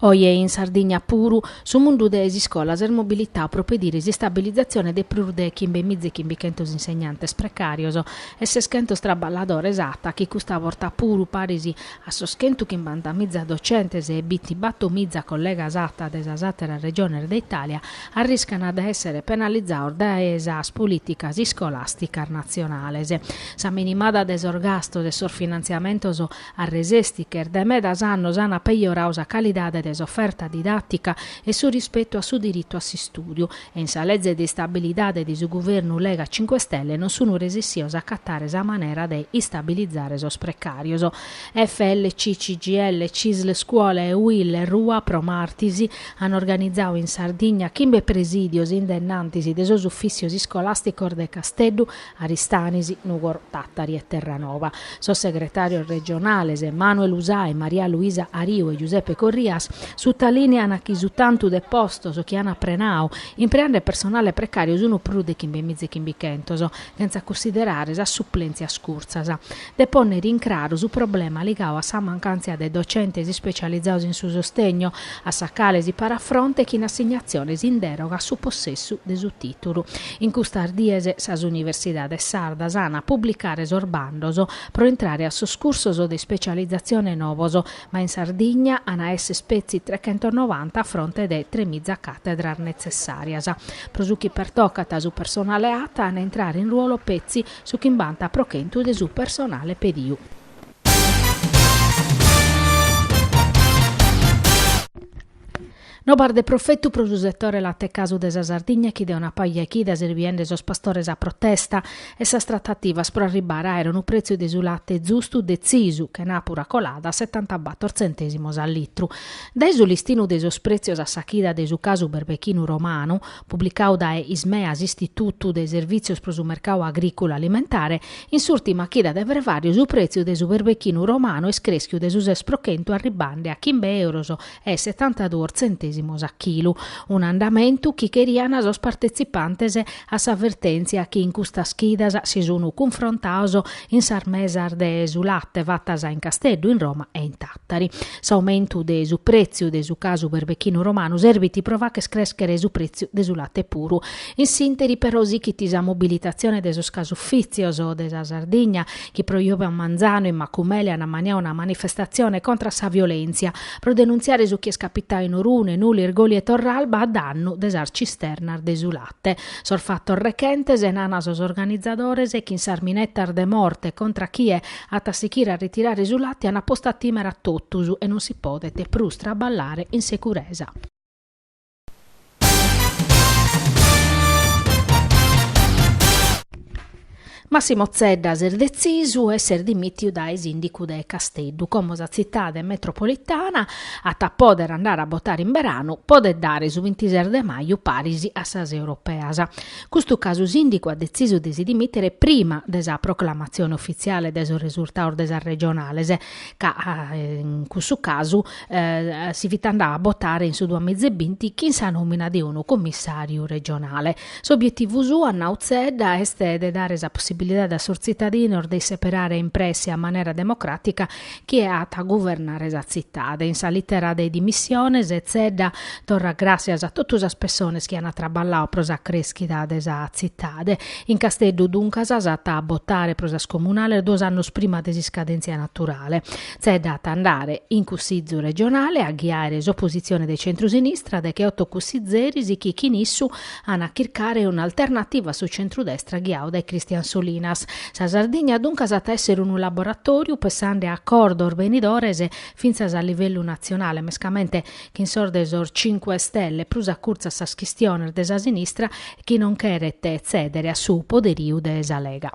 Oje in Sardigna puru, su mundu de s'iscola s'est mobilitau pro pediri s'istabilizatzione de prus de chimbe miza e chimbichentos insegnantes precàrios e seschentos traballadores ata chi custa borta puru paris a sos chentu chimbanta miza docentes e bintibatto miza collegas ata de sas àteras regiones de Itàlia arriscant de èssere penalizados dae sas polìticas iscolàsticas natzionales. Sa minimada de sos gastos e sos finantziamentos Arresesti chi est dae medas annos an apejoradu sa calidade de s'oferta didàtica e su rispetu a su diritu a s'istùdiu e in sa leze de istabilidade de su guvernu Lega Cinque Stelle non sun resessios a acatare sa manera de istabilizare sos precàrios. FLC, CGIL, Cisl Scuola e UIL Rua pro martis an organizadu in Sardigna chimbe presìdios in dennantis de sos ufìssios iscolàsticos de Casteddu, Aristanis, Nùgoro, Tàtari e Terranova. Sos segretàrios regionales Manuel Usai, Maria Luisa Ariu e Giuseppe Corrias sutalìnean chi su tantu de postos chi an prenadu impreande personale precàriu sunt prus de chimbe miza e chimbichentos, sentza cunsiderare sas suplèntzias curtzas. de pònnere in craru su problema ligadu a sa mancàntzia de docentes ispecializados in su sostegno, a sa cale si parat fronte chin assignatziones in dèroga a su possessu de su tìtulu. In custas dies sas universidades sardas ant a publicare sos bandos pro intrare a sos cursos de ispecializatzione novos, ma in Sardigna ant a esser petzi trechentonovanta a fronte de tremiza càtedras netzessàrias. Pro su chi pertocat su personale ata at a intrare in ruolo petzi Su chimbanta pro chentu de su personale pediu. Novas de profetu pro su setore latecasu de sa Sardigna chi de una paja 'e chidas est biende sos pastores a protesta e sas tratativas pro arribbare a aere unu pretziu de su late zustu detzisu, chenàpura colada, a setantabator tzentèsimos a litru. Dae su listinu de sos pretzios a sa chida de su casu berbechinu romanu, publicadu dae Ismea, s'Istitutu de Servìtzios pro su Mercadu Agrìculu Alimentare, in s'ùrtima chida de frevàriu su prètziu de su berbechinu romanu est crèschiu de su ses pro chentu arribande a chimbe euros e setantaduos tzentèsimos a chilu, un'andamentu chi cherian sos partetzipantes a sa vertèntzia chi in custas chidas si sun cunfrontados in sas mesas de su late fatas in Casteddu, in Roma e in. Tari, s'aumentu de su pretziu de su casu berbechinu romanu serbit pro facher crèschere su pretziu de su late puru. In s'interi però sichit sa mobilitazione de sos casufitzios de sa Sardigna chi pro jòvia manzanu in Macumele an ammaniadu una manifestazione contra sa violèntzia pro denuntziare su chi est capitadu in Orune, Nule, Irgoli e Torralba a dannu de sas cisternas de su late. Sos fatos rechentes, nana sos organizadores, chin sas minetas de morte contra chie At a sichire a ritirare su late an postu a timere a totus e non si podet prus traballare in securesa. Massimo Zedda s'est detzisu e s'est dimìtiu dae sìndicu de Casteddu, como sa tzitade metropolitana at a pòdere andare a botare in beranu, podet dare, su bintises de maju paris a sas europeas. Custu ca su sìndicu at detzisu de si dimìtere prima de sa proclamatzione ufitziale de sos resurtados de sas regionales, ca in cussu casu si fit andau a botare in su duas miza e binti chin sa nòmina de unu commissàriu regionale. S'obietivu suo, at nau Zedda, est de dare sa possibilidade a sos tzitadinos de isseperare in presse a manera democràtica chie at a guvernare sa tzitade. In sa lìtera de dimissiones Zedda torrat gràssias a totu sas pessones chi ant traballau pro sa crèschida de sa tzitade. In Casteddu, duncas, s'at a botare pro sas comunales duos annos prima de s'iscadèntzia naturale. Zedda at a andare in Cussizu regionale a ghiare s'opositzione de centru-sinistra decheoto cussizeris chi chin issu An a chircare un'alternativa a su centrudestra ghiau dae Christian Solinas. Sa Sardigna duncas at a èssere unu laboratòriu pessande a acordos benidores fintzas a livellu natzionale, mescamente chin sos de sos Cinque Stelle, prus acurtzu a sas chistiones de sa sinistra chi non cheret tzèdere a su poderiu de sa Lega.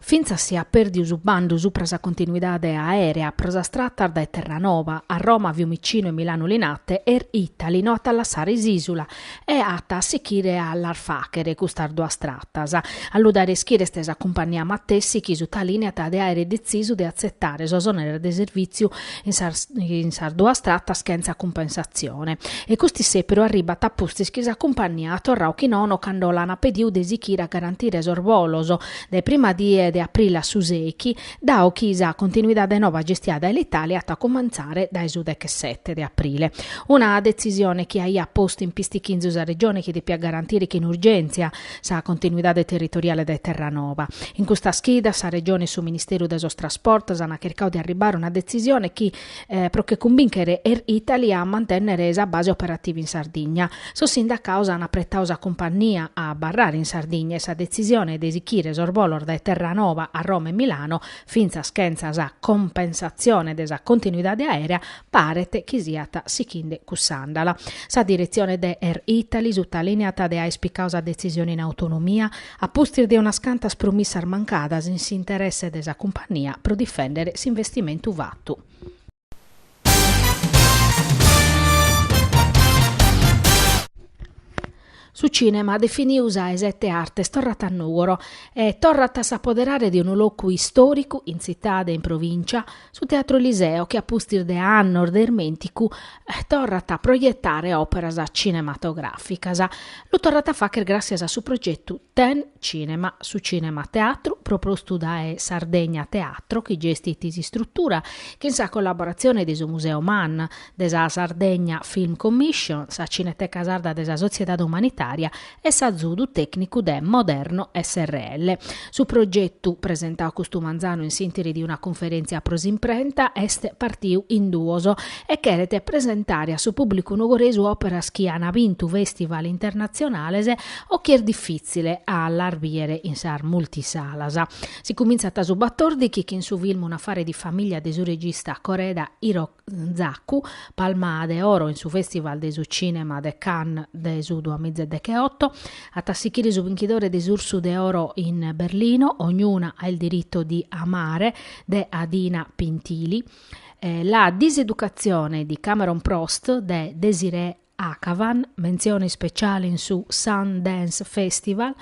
Fintzas si at pèrdiu su bandu supra sa continuidade aèrea pro sas tratas dae Terranova a Roma, Fiumicinu e Milanu Linate, Air Italy no at a lassare s'ìsula e at a sichire a las fàghere custas duas tratas. A lu dare a ischire est sa cumpagnia matessi chi sutalìneat de àere detzisu de atzetare sos òneres de servìtziu in sas duas tratas chentza cumpensatzione, e cust'issèperu arribbat a pustis chi sa cumpagnia at torrau chi nono cando l'ana pediu de sichire a garantire sos bolos dae prima die de aprille a su sèichi, dau chi sa continuidade nova gestia dae Alitalia at a cumentzare dae su dechesete de aprille, una detzisione chi aiat postu in pistichinzu sa Regione chi depiat garantire chin urgèntzia sa continuidade territoriale dae Terranova. In custas chidas sa Regione e su Ministeru de sos Trasportos ant chircau de arribare a una detzisione chi, pro che cumbinchere Air Italy a mantènnere sa base operativa in Sardigna, sos sindacaos ant apretau sa cumpagnia a abarrare in Sardigna e sa detzisione de sichire sos bolos dae Terranova a Roma e Milano, fintzas chentza sa cumpensatzione de sa continuidade aèrea, paret chi siat sichinde cuss'àndala. Sa diretzione de Air Italy sutalìneat de àere picau sa detzisione in autonomia, a pustis de unas cantas promissas mancadas in s'interesse de sa cumpagnia pro difèndere s'investimentu fatu. Su cìnema, definiu sa 'e sete arte, torrat a Nùgoro e torrat a s'apoderare de unu locu istòricu, in tzitade e in provìncia, su Teatro Eliseo, chi a pustis de annos de irmènticu, torrat a proietare òperas cinematogràficas. Lu torrat a fàghere gràssias a su progetu. Ten cinema, su Cinema Teatru, propostu dae Sardegna Teatro, chi gestit s'istrutura, chin sa collaboratzione de su Museu MAN, de sa Sardegna Film Commission, sa Cineteca Sarda de sa Sotziedade Umanitària e s'azudu tècnicu de Moderno srl. Su progetu, presentadu custu manzanu in s'intìri de una cunferèntzia pro s'imprenta, est partiu in duos e cheret presentare a su pùblicu nugoresu òperas chi an bintu festival internatzionales O chi est difìtzile a las bìere in sas multisalas. Si cumintzat a su batòrdighi chin su film Un'affare di famiglia de su regista Koreeda Hirozaku, Palma de Oro in su Festival de su Cinema de Cannes de su duamiza e decheoto, at a sichire su binchidore de s'Ursu de Oro in Berlino, Ognuna ha il diritto di amare de Adina Pintilie, La diseducazione di Cameron Prost de Désirée Akhavan, mentzione ispeciale in su Sundance Festival,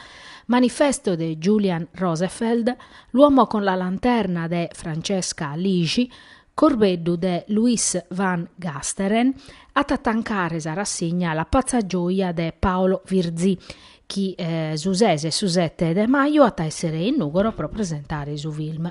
Manifesto de Julian Rosefeldt, L'uomo con la lanterna de Francesca Lixi, Corbeddu de Louis van Gasteren, at a tancare sa rassigna La pazza gioia de Paolo Virzì, chi su ses e su sete de maju at a èssere in Nùgoro pro presentare su film.